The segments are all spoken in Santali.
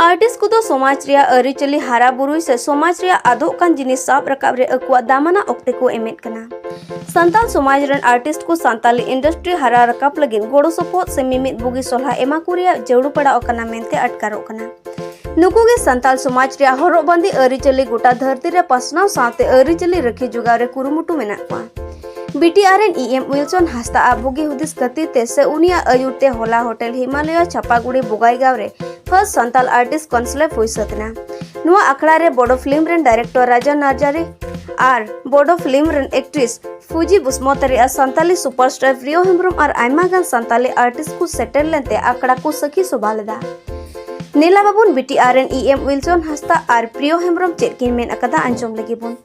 ᱟᱨᱴᱤᱥ ᱠᱚᱫᱚ ᱥᱚᱢᱟᱡᱽ ᱨᱮᱭᱟᱜ ᱟᱹᱨᱤᱪᱟᱹᱞᱤ ᱦᱟᱨᱟ ᱵᱩᱨᱩᱭ ᱥᱮ ᱥᱚᱢᱟᱡᱽ ᱨᱮᱭᱟᱜ ᱟᱫᱚᱜ ᱠᱟᱱ ᱡᱤᱱᱤᱥ ᱥᱟᱵ ᱨᱟᱠᱟᱵ ᱨᱮ ᱟᱠᱚᱣᱟᱜ ᱫᱟᱢᱟᱱᱟ ᱚᱠᱛᱮ ᱠᱚ ᱮᱢᱮᱫ ᱠᱟᱱᱟ ᱥᱟᱱᱛᱟᱲ ᱥᱚᱢᱟᱡᱽ ᱨᱮᱱ ᱟᱨᱴᱤᱥᱴ ᱠᱚ ᱥᱟᱱᱛᱟᱞᱤ ᱤᱱᱰᱟᱥᱴᱨᱤ ᱦᱟᱨᱟ ᱨᱟᱠᱟᱵ ᱞᱟᱹᱜᱤᱫ ᱜᱚᱲᱚ ᱥᱚᱯᱚᱦᱚᱫ ᱥᱮ ᱢᱤᱢᱤᱫ ᱵᱩᱜᱤ ᱥᱚᱞᱦᱟ ᱮᱢᱟ ᱠᱚ ᱨᱮᱭᱟᱜ ᱡᱟᱹᱨᱩᱲ ᱯᱟᱲᱟᱣ ᱠᱟᱱᱟ ᱢᱮᱱᱛᱮ ᱟᱴᱠᱟᱨᱚᱜ ᱠᱟᱱᱟ ᱱᱩᱠᱩ ᱜᱮ ᱥᱟᱱᱛᱟᱲ ᱥᱚᱢᱟᱡᱽ ᱨᱮᱭᱟᱜ ᱦᱚᱨᱚᱜ ᱵᱟᱸᱫᱮ ᱟᱹᱨᱤᱪᱟᱹᱞᱤ ᱜᱚᱴᱟ ᱫᱷᱟᱹᱨᱛᱤ ᱨᱮ ᱯᱟᱥᱱᱟᱣ ᱥᱟᱶᱛᱮ ᱟᱹᱨᱤᱪᱟᱹᱞᱤ ᱨᱟᱹᱠᱷᱤ ᱡᱚᱜᱟᱣ ᱨᱮ ᱠᱩᱨᱩᱢᱩᱴᱩ ᱢᱮᱱᱟᱜ ᱠᱚᱣᱟ ᱵᱤᱴᱤᱟᱨ ᱨᱮᱱ ᱤ ᱮᱢ ᱩᱭᱤᱞᱥᱚᱱ ᱦᱟᱸᱥᱫᱟ ᱟᱜ ᱵᱩᱜᱤ ᱦᱩᱫᱤᱥ ᱠᱷᱟᱹᱛᱤᱨ ᱛᱮ ᱥᱮ ᱩᱱᱤᱭᱟᱜ ᱟᱹᱭᱩᱨ ᱛᱮ ᱦᱚᱞᱟ ᱦᱳᱴᱮᱞ ᱦᱤᱢᱟᱞᱚᱭᱟ ᱪᱷᱟᱯᱟᱜᱩᱲᱤ ᱵᱚᱜᱟᱭᱜᱟᱸᱣ ᱨᱮ ᱯᱷᱟᱨᱥᱴ ᱥᱟᱱᱛᱟᱞ ᱟᱨᱴᱤᱥ ᱠᱚᱱᱥᱞᱮᱵ ᱦᱩᱭ ᱥᱟᱹᱛ ᱮᱱᱟ ᱱᱚᱣᱟ ᱟᱠᱷᱲᱟ ᱨᱮ ᱵᱚᱰᱚ ᱯᱷᱤᱞᱢ ᱨᱮᱱ ᱰᱟᱭᱨᱮᱠᱴᱚᱨ ᱨᱟᱡᱟ ᱱᱟᱨᱡᱟᱨᱤ ᱟᱨ ᱵᱚᱰᱚ ᱯᱷᱤᱞᱢ ᱨᱮᱱ ᱮᱠᱴᱨᱮᱥ ᱯᱷᱩᱡᱤ ᱵᱩᱥᱢᱚᱛᱟᱨᱤ ᱟᱨ ᱥᱟᱱᱛᱟᱞᱤ ᱥᱩᱯᱟᱨᱥᱴᱟᱨ ᱯᱨᱤᱭᱚ ᱦᱮᱢᱵᱨᱚᱢ ᱟᱨ ᱟᱭᱢᱟ ᱜᱟᱱ ᱥᱟᱱᱛᱟᱞᱤ ᱟᱨᱴᱤᱥᱴ ᱠᱚ ᱥᱮᱴᱮᱨ ᱞᱮᱱᱛᱮ ᱟᱠᱷᱲᱟ ᱠᱚ ᱥᱟᱹᱠᱷᱤ ᱥᱚᱵᱷᱟ ᱞᱮᱫᱟ ᱱᱮᱞᱟ ᱵᱟᱵᱚᱱ ᱵᱤᱴᱤᱟᱨ ᱨᱮᱱ ᱤ ᱮᱢ ᱩᱭᱤᱞᱥᱚᱱ ᱦᱟᱸᱥᱫᱟ ᱟᱨ ᱯᱨᱤᱭᱚ ᱦᱮᱢᱵᱨᱚᱢ ᱪᱮᱫ ᱠᱤᱱ ᱢᱮᱱ ᱟᱠᱟᱫᱟ ᱟᱸᱡᱚᱢ ᱞᱟᱹᱜᱤᱫ ᱵᱚᱱ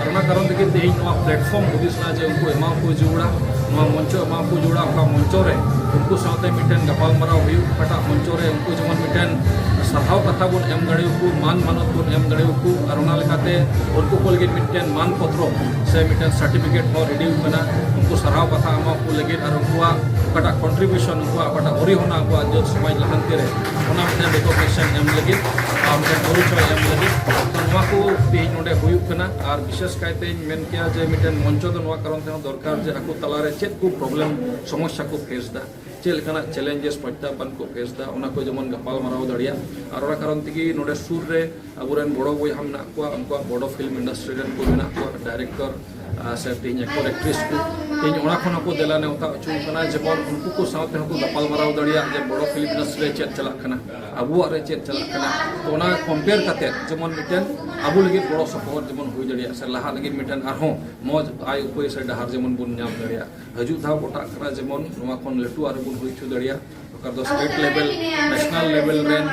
ᱟᱨ ᱚᱱᱟ ᱠᱟᱨᱚᱱ ᱛᱮᱜᱮ ᱛᱮᱦᱮᱧ ᱱᱚᱣᱟ ᱯᱞᱟᱴᱯᱷᱚᱨᱢ ᱦᱩᱫᱤᱥ ᱮᱱᱟ ᱡᱮ ᱩᱱᱠᱩ ᱮᱢᱟ ᱠᱚ ᱡᱩᱲᱟ ᱱᱚᱣᱟ ᱢᱚᱧᱪᱚ ᱮᱢᱟ ᱠᱚ ᱡᱩᱲᱟ ᱚᱠᱟ ᱢᱚᱧᱪᱚ ᱨᱮ ᱩᱱᱠᱩ ᱥᱟᱶᱛᱮ ᱢᱤᱫᱴᱮᱱ ᱜᱟᱯᱟᱞᱢᱟᱨᱟᱣ ᱦᱩᱭᱩᱜ ᱚᱠᱟᱴᱟᱜ ᱢᱚᱧᱪᱚ ᱨᱮ ᱩᱱᱠᱩ ᱡᱮᱢᱚᱱ ᱢᱤᱫᱴᱮᱱ ᱥᱟᱨᱦᱟᱣ ᱠᱟᱛᱷᱟ ᱵᱚᱱ ᱮᱢ ᱫᱟᱲᱮᱭᱟᱠᱚ ᱢᱟᱱ ᱢᱟᱱᱚᱛ ᱵᱚᱱ ᱮᱢ ᱫᱟᱲᱮᱭᱟᱠᱚ ᱟᱨ ᱚᱱᱟ ᱞᱮᱠᱟᱛᱮ ᱩᱱᱠᱩ ᱠᱚ ᱞᱟᱹᱜᱤᱫ ᱢᱤᱫᱴᱮᱱ ᱢᱟᱱ ᱯᱚᱛᱨᱚ ᱥᱮ ᱢᱤᱫᱴᱮᱱ ᱥᱟᱨᱴᱤᱯᱷᱤᱠᱮᱴ ᱦᱚᱸ ᱨᱮᱰᱤ ᱟᱠᱟᱱᱟ ᱩᱱᱠᱩ ᱥᱟᱨᱦᱟᱣ ᱠᱟᱛᱷᱟ ᱮᱢᱟ ᱠᱚ ᱞᱟᱹᱜᱤᱫ ᱟᱨ ᱩᱱᱠᱩᱣᱟᱜ ᱚᱠᱟᱴᱟᱜ ᱠᱚᱱᱴᱨᱤᱵᱤᱭᱩᱥᱚᱱ ᱩᱱᱠᱩᱣᱟᱜ ᱚᱠᱟᱴᱟᱜ ᱚᱨᱤᱦᱚᱱᱟ ᱟᱵᱚᱣᱟᱜ ᱡᱟᱹᱛ ᱥᱚᱢᱟᱡᱽ ᱞᱟᱦᱟᱱᱛᱤ ᱨᱮ ᱚᱱᱟ ᱢᱤᱫᱴᱮᱱ ᱨᱤᱠᱚᱜᱱᱤᱥᱚᱱ ᱮᱢ ᱞᱟᱹᱜᱤᱫ ᱟᱨ ᱢᱤᱫᱴᱮᱱ ᱯᱚᱨᱤᱪᱚᱭ ᱮᱢ ᱞᱟᱹᱜᱤᱫ ᱱᱚᱣᱟ ᱠᱚ ᱛᱮᱦᱮᱧ ᱱᱚᱰᱮ ᱦᱩᱭᱩᱜ ᱠᱟᱱᱟ ᱟᱨ ᱵᱤᱥᱮᱥ ᱠᱟᱭᱛᱮᱧ ᱢᱮᱱ ᱠᱮᱭᱟ ᱡᱮ ᱢᱤᱫᱴᱮᱱ ᱢᱚᱧᱪᱚ ᱫᱚ ᱱᱚᱣᱟ ᱠᱟᱨᱚᱱ ᱛᱮᱦᱚᱸ ᱫᱚᱨᱠᱟᱨ ᱡᱮ ᱟᱠᱚ ᱛᱟᱞᱟᱨᱮ ᱪᱮᱫ ᱠᱚ ᱯᱨᱚᱵᱞᱮᱢ ᱥᱚᱢᱚᱥᱥᱟ ᱠᱚ ᱯᱷᱮᱥ ᱫᱟ ᱪᱮᱫ ᱞᱮᱠᱟᱱᱟᱜ ᱪᱮᱞᱮᱧᱡᱮᱥ ᱯᱨᱚᱛᱭᱟᱦᱵᱟᱱ ᱠᱚ ᱯᱷᱮᱥ ᱫᱟ ᱚᱱᱟ ᱠᱚ ᱡᱮᱢᱚᱱ ᱜᱟᱯᱟᱞ ᱢᱟᱨᱟᱣ ᱫᱟᱲᱮᱭᱟᱜ ᱟᱨ ᱚᱱᱟ ᱠᱟᱨᱚᱱ ᱛᱮᱜᱮ ᱱᱚᱰᱮ ᱥᱩᱨ ᱨᱮ ᱟᱵᱚᱨᱮᱱ ᱵᱚᱲᱚ ᱵᱚᱭᱦᱟ ᱢᱮᱱᱟᱜ ᱠᱚᱣᱟ ᱩᱱᱠᱩᱣᱟᱜ ᱵᱚᱲᱚ ᱯᱷᱤᱞᱢ ᱤᱱᱰᱟᱥᱴᱨᱤ ᱨᱮᱱ ᱠᱚ ᱢᱮᱱᱟᱜ ᱠᱚᱣᱟ ᱰᱟᱭᱨᱮᱠᱴᱚᱨ ᱥᱮ ᱛᱮᱦᱮᱧ ᱮᱠᱴᱚᱨ ᱮᱠᱴᱨᱮᱥ ᱠᱚ ᱛᱮᱦᱮᱧ ᱚᱱᱟ ᱠᱷᱚᱱ ᱦᱚᱸᱠᱚ ᱫᱮᱞᱟ ᱱᱮᱣᱛᱟ ᱦᱚᱪᱚ ᱠᱟᱱᱟ ᱡᱮᱢᱚᱱ ᱩᱱᱠᱩ ᱠᱚ ᱥᱟᱶᱛᱮ ᱦᱚᱸᱠᱚ ᱜᱟᱯᱟᱞ ᱢᱟᱨᱟᱣ ᱫᱟᱲᱮᱭᱟᱜ ᱡᱮ ᱵᱚᱲᱚ ᱯᱷᱤᱞᱢ ᱤᱱᱰᱟᱥᱴᱨᱤ ᱨᱮ ᱪᱮᱫ ᱪᱟᱞᱟᱜ ᱠᱟᱱᱟ ᱟᱵᱚᱣᱟᱜ ᱨᱮ ᱪᱮᱫ ᱪᱟᱞᱟᱜ ᱠᱟᱱᱟ ᱛᱚ ᱚᱱᱟ ᱠᱚᱢᱯᱮᱭᱟᱨ ᱠᱟᱛᱮ ᱡᱮᱢᱚᱱ ᱢᱤᱫᱴᱮᱱ ᱟᱵᱚ ᱞᱟᱹᱜᱤᱫ ᱜᱚᱲᱚ ᱥᱚᱯᱚᱦᱚᱫ ᱡᱮᱢᱚᱱ ᱦᱩᱭ ᱫᱟᱲᱮᱭᱟᱜ ᱥᱮ ᱞᱟᱦᱟᱜ ᱞᱟᱹᱜᱤᱫ ᱢᱤᱫᱴᱮᱱ ᱟᱨᱦᱚᱸ ᱢᱚᱡᱽ ᱟᱭ ᱩᱯᱟᱹᱭ ᱥᱮ ᱰᱟᱦᱟᱨ ᱡᱮᱢᱚᱱ ᱵᱚᱱ ᱧᱟᱢ ᱫᱟᱲᱮᱭᱟᱜ ᱦᱤᱡᱩᱜ ᱫᱷᱟᱣ ᱜᱚᱴᱟᱜ ᱠᱟᱱᱟ ᱡᱮᱢᱚᱱ ᱱᱚᱣᱟ ᱠᱷᱚᱱ ᱞᱟᱹᱴᱩ ᱟᱨᱦᱚᱸ ᱵᱚᱱ ᱦᱩᱭ ᱦᱚᱪᱚ ᱫᱟᱲᱮᱭᱟᱜ ᱚᱠᱟ ᱫᱚ ᱥᱴᱮᱴ ᱞᱮᱵᱮᱞ ᱱᱮᱥᱱᱟᱞ ᱞᱮᱵᱮᱞ ᱨᱮᱱ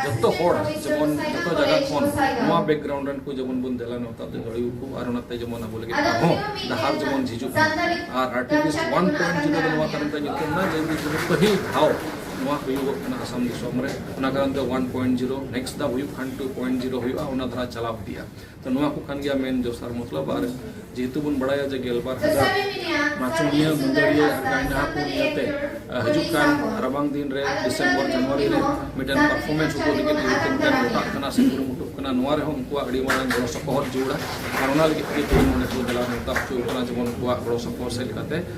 ᱡᱚᱛᱚ ᱦᱚᱲ ᱡᱮᱢᱚᱱ ᱡᱚᱛᱚ ᱡᱟᱭᱜᱟ ᱠᱷᱚᱱ ᱱᱚᱣᱟ ᱵᱮᱠᱜᱨᱟᱣᱩᱱᱰ ᱨᱮᱱ ᱠᱚ ᱡᱮᱢᱚᱱ ᱵᱚᱱ ᱫᱮᱞᱟ ᱱᱮᱣᱛᱟ ᱫᱚ ᱫᱟᱲᱮ ᱟᱠᱚ ᱟᱨ ᱚᱱᱟᱛᱮ ᱡᱮᱢᱚᱱ ᱟᱵᱚ ᱞᱟᱹᱜᱤᱫ ᱟᱨᱦᱚᱸ ᱰᱟᱦᱟᱨ ᱡᱮᱢᱚᱱ ᱡᱷᱤᱡᱩᱜ ᱢᱟ ᱟᱨ ᱟᱨᱴᱤᱯᱤᱥ ᱚᱣᱟᱱ ᱯᱚᱭᱮᱱᱴ ᱡᱤᱨᱳ ᱫᱚ ᱱᱚᱣᱟ ᱠᱟᱨᱚᱱ ᱛᱮ ᱧᱩᱛᱩᱢ ᱮᱱᱟ ᱡᱮ ᱯᱟᱹᱦᱤᱞ ᱫᱷᱟᱣ ᱱᱚᱣᱟ ᱦᱩᱭᱩᱜᱚᱜ ᱠᱟᱱᱟ ᱟᱥᱟᱢ ᱫᱤᱥᱚᱢ ᱨᱮ ᱚᱱᱟ ᱠᱟᱨᱚᱱ ᱛᱮ 1.0 ᱱᱮᱠᱥᱴ ᱫᱷᱟᱣ ᱦᱩᱭᱩᱜ ᱠᱷᱟᱱ 2.0 ᱦᱩᱭᱩᱜᱼᱟ ᱚᱱᱟ ᱫᱷᱟᱨᱟ ᱪᱟᱞᱟᱣ ᱤᱫᱤᱜᱼᱟ ᱛᱚ ᱱᱚᱣᱟ ᱠᱚ ᱠᱟᱱ ᱜᱮᱭᱟ ᱢᱮᱱ ᱡᱚᱥᱟᱨ ᱢᱚᱛᱞᱚᱵ ᱟᱨ ᱡᱮᱦᱮᱛᱩ ᱵᱚᱱ ᱵᱟᱲᱟᱭᱟ ᱡᱮ ᱜᱮᱞᱵᱟᱨ ᱦᱟᱡᱟᱨ ᱱᱟᱪᱚᱱᱤᱭᱟᱹ ᱢᱩᱱᱫᱟᱹᱲᱤᱭᱟᱹ ᱟᱨ ᱜᱟᱭᱱᱟ ᱠᱚ ᱱᱤᱭᱟᱹᱛᱮ ᱦᱤᱡᱩᱜ ᱠᱟᱱ ᱨᱟᱵᱟᱝ ᱫᱤᱱ ᱨᱮ ᱰᱤᱥᱮᱢᱵᱚᱨ ᱡᱟᱱᱩᱣᱟᱨᱤ ᱨᱮ ᱢᱤᱫᱴᱮᱱ ᱯᱟᱨᱯᱷᱚᱨᱢᱮᱱᱥ ᱩᱫᱩᱜ ᱞᱟᱹᱜᱤᱫ ᱡᱮᱦᱮᱛᱩ ᱢᱤᱫᱴᱮᱱ ᱜᱚᱴᱟᱜ ᱠᱟᱱᱟ ᱥᱮ ᱠᱩᱨᱩᱢᱩᱴᱩᱜ ᱠᱟᱱᱟ ᱱᱚᱣᱟ ᱨᱮᱦᱚᱸ ᱩᱱᱠᱩᱣᱟᱜ ᱟᱹᱰᱤ ᱢᱟᱨᱟᱝ ᱜᱚᱲᱚ ᱥᱚᱯᱚᱦᱚᱫ ᱡᱟᱹᱨᱩᱲᱟ ᱟᱨ ᱚᱱᱟ ᱞᱟᱹᱜᱤᱫ ᱛᱮᱜᱮ ᱛᱮᱦᱮᱧ ᱱᱚᱰᱮ ᱠᱚ ᱫᱮᱞᱟ ᱱᱮᱣᱛᱟ ᱦᱚᱪᱚ ᱠᱟᱱᱟ ᱡᱮᱢᱚᱱ ᱩᱱᱠᱩᱣᱟᱜ ᱜᱚᱲᱚ ᱥᱚᱯᱚᱦᱚᱫ ᱥᱮᱫ ᱞᱮᱠᱟᱛᱮ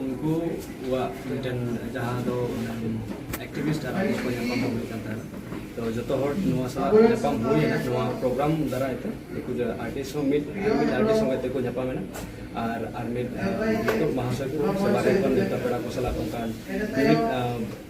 ᱩᱱᱠᱩᱣᱟᱜ ᱢᱤᱫᱴᱮᱱ ᱡᱟᱦᱟᱸ ᱫᱚ ᱮᱠᱴᱤᱵᱷᱤᱥᱴ ᱟᱨ ᱟᱭᱤᱥ ᱠᱚ ᱧᱟᱯᱟᱢ ᱦᱩᱭ ᱠᱟᱱ ᱛᱟᱦᱮᱱᱟ ᱛᱚ ᱡᱚᱛᱚ ᱦᱚᱲ ᱱᱚᱣᱟ ᱥᱟᱞᱟᱜ ᱧᱟᱯᱟᱢ ᱦᱩᱭᱮᱱᱟ ᱱᱚᱣᱟ ᱯᱨᱳᱜᱨᱟᱢ ᱫᱟᱨᱟᱭ ᱛᱮ ᱩᱱᱠᱩ ᱟᱨᱴᱤᱥᱴ ᱦᱚᱸ ᱢᱤᱫ ᱢᱤᱫ ᱟᱨᱴᱤᱥᱴ ᱥᱚᱸᱜᱮ ᱛᱮᱠᱚ ᱧᱟᱯᱟᱢᱮᱱᱟ ᱟᱨ ᱟᱨ ᱢᱤᱫ ᱢᱟᱦᱟᱥᱚᱭ ᱠᱚ ᱥᱮ ᱵᱟᱨᱦᱮ ᱠᱷᱚᱱ ᱱᱮᱣᱛᱟ ᱯᱮᱲᱟ ᱠᱚ ᱥᱟᱞᱟᱜ ᱚᱱᱠᱟᱱ ᱢᱤᱫ